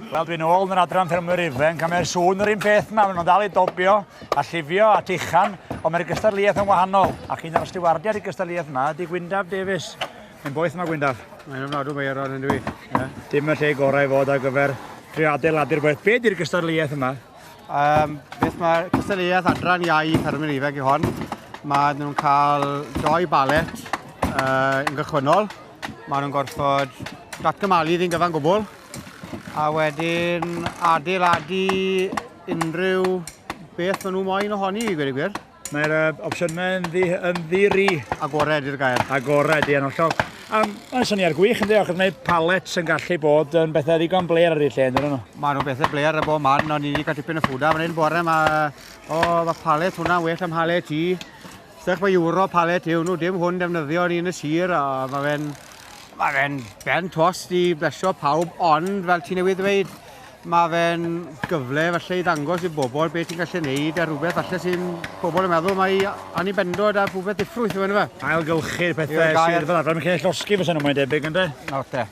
Wel, dwi'n ôl yn yr adran ffermwyr ifanc, a mae'r sŵn yr un peth yma. Maen nhw'n dal i dobio a llifio a tichan, ond mae'r gystadleuaeth yn wahanol. Ac un o'r stiwardiad i gystadleuaeth yma ydy Gwyndaf Davies. Mae'n boeth yma, Gwyndaf. Mae'n ymwneud â Ron yn dwi. Yeah. Dim y lle gorau i fod ar gyfer trio adeiladu'r boeth. Be di'r gystadleuaeth yma? Um, beth mae'r cystadleuaeth adran iau Ffermwyr Ifeg i hon? Mae nhw'n cael doi balet uh, yn gychwynnol. Mae nhw'n gorfod datgymalu ddyn gyfan gwbl. A wedyn adeiladu unrhyw beth maen nhw moyn ohoni, i gweud y gwir. Mae'r uh, opsiynau yn, ddi, yn ddiri. Agored i'r gair. Agored, ie, yn hollol. Um, mae'n syniad gwych yn ddiolch, mae palet sy'n gallu bod yn bethau ddigon bler ar y lle, yn nhw? Mae nhw'n bethau bler y bod man, ond ni wedi cael tipyn o ffwda fan hyn bore, mae o, mae palet hwnna'n well am halet i. Sech mae euro palet yw nhw, dim hwn defnyddio ni yn y sir, a mae fe'n mae fe'n ben tost i blesio pawb, ond fel ti newydd ddweud, Mae fe'n gyfle falle i ddangos i bobl beth ti'n gallu neud a rhywbeth falle sy'n pobl yn meddwl mae Annie Bendod a rhywbeth diffrwyth yw e, yndyfe? Ailgylchu'r pethau Yw'r gair- sydd fel arfer yn cael eu llosgi fysen nhw mae'n debyg ynde? Nawr te.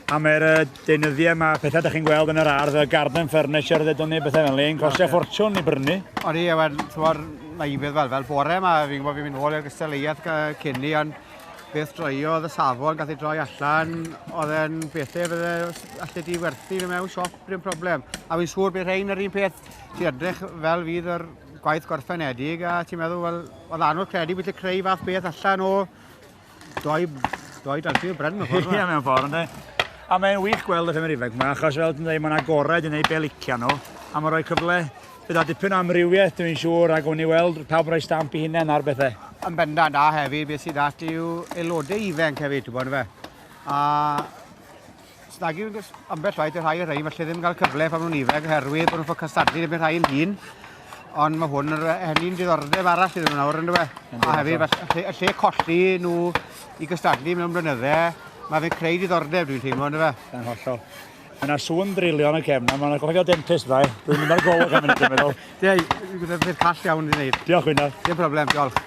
A mae'r yy, deunyddiau yma, pethau da chi'n gweld yn yr ardd, y garden furniture ddedwn ni, bethau fel 'ny, yn costio ffortiwn i brynu. Odi, a wel, t'mod, naïfedd fel fel bore 'ma, fi'n gwybod fi'n mynd nôl i'r gystadleuaeth gy- cyn 'ny, ond Beth droiodd y safon, gath ei droi allan, oedd e'n bethau fydde allu di werthu nhw mewn siop, bryn problem. A fi'n siŵr bydd rhain yr un peth, ti edrych fel fydd yr gwaith gorffenedig a ti'n meddwl, wel, oedd anodd credu bod ti'n creu fath beth allan o doi, doi dalfi o bren mewn ffordd. Ie, mewn ffordd, ynddo. A mae'n wych gweld y ffemer ifanc yma, achos fel ti'n dweud, mae'n agored i wneud be licio nhw, a mae'n rhoi cyfle Gyda dipyn o amrywiaeth dwi'n siŵr ac o'n i weld pawb rhoi stamp i hunain ar bethau. Yn bendant a hefyd beth sydd at yw aelodau ifanc hefyd, ti'n bod fe. A snagi ambell waith y rhai y rhain, felly ddim cael cyfle pan nhw'n ifanc oherwydd bod nhw'n ffocus stadu yn rhai yn hun. Ond mae hwn yn henni'n diddordeb arall iddyn nhw nawr yn dweud. A hefyd, y lle colli nhw i gystadlu mewn blynyddau, mae fe'n creu diddordeb dwi'n teimlo yn dweud. Yn hollol. Mae yna sŵn drilio yn y cefn yma, mae'n gofio dentist dda. Dwi'n mynd ar golwg am hynny, dwi'n meddwl. Ie, dwi'n gwybod beth call iawn i wneud. Diolch, Gwynedd. Dim problem, diolch.